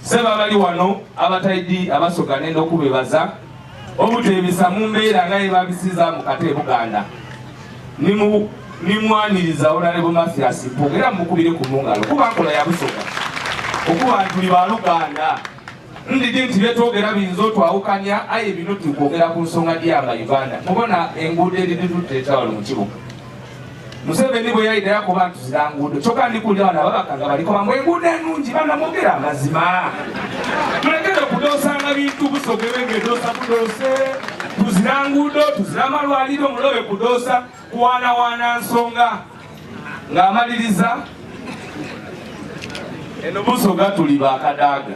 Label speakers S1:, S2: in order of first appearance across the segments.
S1: Sebo abali wano abataidi abasoga nenda okubebaza obutebisa mu mbeera nga yebabisiza mu kate Buganda nimwaniriza Honorable Mathias Mpuuga era mukubire ku mungalo kuba nkola ya Busoga okuba ntuli ba Luganda ndidi nti byetwogera biyinza otwawukanya aye bino tukwogera ku nsonga dyama Uganda mubona enguudo eriditutte etawalo mu kibuga Museveni bwe yayidira ku bantu zira nguudo kyokka ndi kulya bano ababaka nga baliko bamwe enguudo ennungi bana mwogera amazima tulekere okudoosanga bintu busogere ng'edoosa budoose tuzira nguudo tuzira amalwaliro mulobe kudoosa kuwaanawaana nsonga ng'amaliriza eno busoga tuli bakadaaga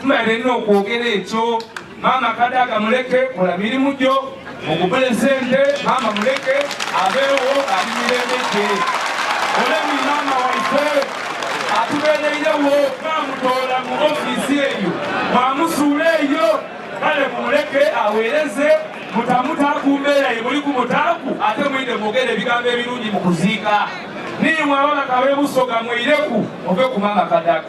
S1: Tumale nno okwogera ekyo maama kadaga muleke kola mirimu gyo mugubule sente maama muleke abeewo ali mirembe gye olemi maama waife atubeereirewo twamutoola mu ofiisi eyo mwamusuula eyo kale mumuleke aweereze mutamuta ku mbeera ye muli ku mutaaku ate mwide mwogere ebigambo ebirungi mu kuziika niimwe ababaka b'ebusoga mwireku ove ku maama kadaga